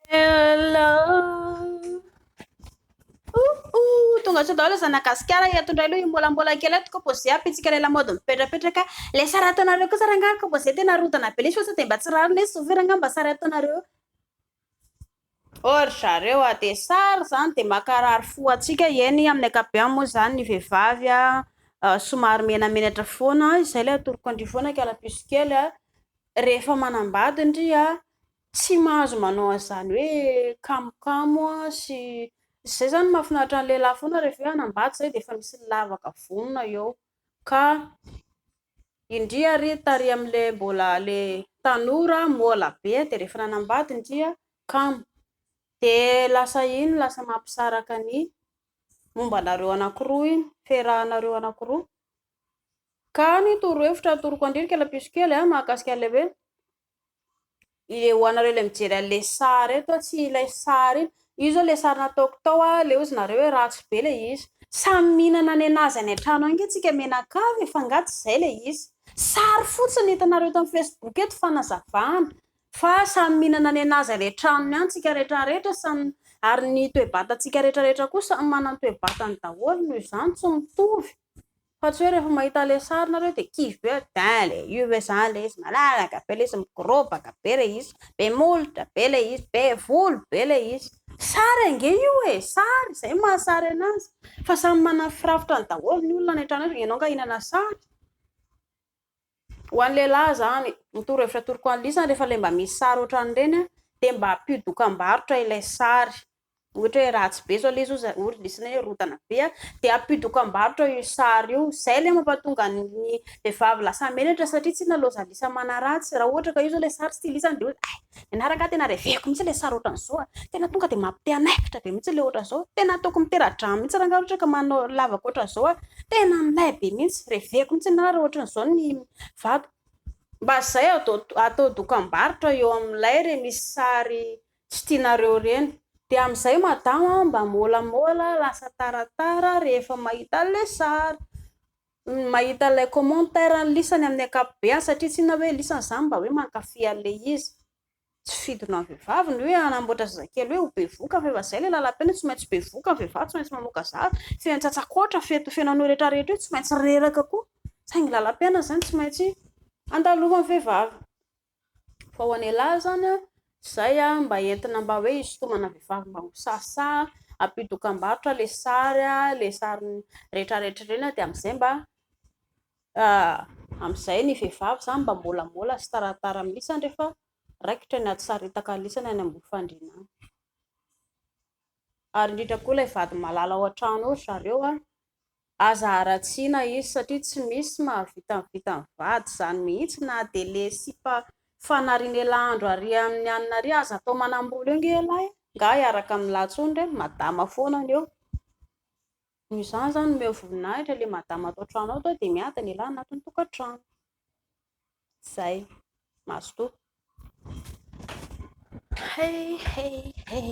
Hello. Ouh ouh, tonga sao daholo zana gasikara eto indray aloha imbolambola kely eto koa zay apitsika ilay lamaody mipetrapetraka ilay sary ataonareo kosa rangahy koa zay tena rodana be lesy fa sao dia mba tsy rariny hoe souvir angamba mba sary ataonareo Or zareo a dia sary izany dia makarary fo antsika eny amin'ny ankapobeny moa izany ny vehivavy somary menamenatra foana izay ilay atoroko an-dry foana kala piso kely a Rehefa manambady ndry a, tsy mahazo manao an'izany hoe kamokamo a sy izay zany mahafinaritra ny lehilahy foana rehefa hoe hanambady izay dia efa misy ny lavaka vonona eo ka indry ary tary amin'ilay mbola ilay tanora mola be dia rehefa nanambady ndry a kamo, dia lasa iny lasa mampisaraka ny momba anareo anakiroa iny, fiarahanareo anakiroa. Ka ny torohevitra atoroko andrika ilay piso kely a, mahakasika an'ilay hoe le ho anareo ilay mijery an'ilay sary eto a, tsy ilay sary iny, io izao ilay sary nataoko tao a, leo izy nareo hoe ratsy be ilay izy. Samy mihinana ny anazy any an-trano any ange tsika menakavy e, fa nga tsy izay ilay izy. Sary fotsiny hitanareo eto amin'ny facebook eto fanazavana, fa samy mihinana ny anazy any an-tranony any tsika retraretra, samy ary ny toe-batantsika retraretra koa samy manana ny toe-batany daholo, noho izany tsy mitovy. Fa tsy hoe rehefa mahita ilay sary nareo dia kivy be hoe bien ilay izy ve zany ilay izy malalaka be ilay izy mikorobaka be ilay izy be molotra be ilay izy be volo be ilay izy sary ange io e sary izay no maha sary anazy fa samy manana ny firafitrany daholo ny olona any an-trano any ianao angaha hihinana sary Ho an'ny lehilahy izany, ny torohevitra atoroko an'i Lisa, rehefa ilay mba misy sary ohatran'ireny, dia mba ampio dokambarotra ilay sary. Ohatra hoe ratsy be izao ilay izy, hoy hoy ry Lisa hoe rotana be an, dia ampio dokambarotra io sary io. Izay ilay mampatonga ny vehivavy lasa menatra, satria tsy nalaozan'i Lisa manaratsy. Raha ohatra ka io izao ilay sary tsy tian'i Lisa, dia hoy izy hay, Ianareo angaha tena reveko mihitsy ilay sary ohatran'izao a! Tena tonga dia mampite hanaikitra be mihitsy ilay ohatran'izao. Tena ataoko mitera-drano mihitsy rangaha ohatra ka manao lavaka ohatran'izao a! Tena milay be mihitsy. Reveko mihitsy ianareo raha ohatran'izao ny vato. Mba izay atao dokambarotra eo amin'ilay re misy sary tsy tianareo ireny. Dia amin'izay madama mba môlamôla lasa taratara rehefa mahita an'ilay sary. ny mahita ilay commentaire an'i Lisa ny amin'ny ankapobeany satria tsy inona hoe Lisa izany mba hoe mankafy an'ilay izy tsy fidona ny vehivavy ny hoe hanamboatra zazakely hoe ho bevoka fa efa izay ilay lalam-peno hoe tsy maintsy bevoka ny vehivavy tsy maintsy mamoaka zaza feno tsatsakoatra feno feno an'io rehetra rehetra io tsy maintsy reraka koa saingy lalam-piainana izany tsy maintsy andaloan'ny vehivavy fa ho an'ialahy izany an, izay an, mba entina mba hoe hisintomana vehivavy mba ho sahisahy, ampio dokambarotra ilay sary an, ilay sary retraretra ireny an, dia amin'izay mba, amin'izay ny vehivavy izany mba molamola sy taratara mihintsy izany rehefa raikitra ny hatsisaritaka alisany any ambony fandriana any, ary indrindra koa ilay vady malala ao an-trano ao ry zareo an, Aza haratsiana izy satria tsy misy mahavita ny vitan'ny vady izany mihitsy na dia le sipa fanarin'elah andro ary amin'ny anina ary aza atao manambolo eo nge elah e! nga hiaraka amin'ny lahatsony re ny madama foana ny eo noho izany izany omeo voninahitra le madama ato an-trano ato dia miady ny elah anatin'ny tokantrano izay mazotoa hey hey hey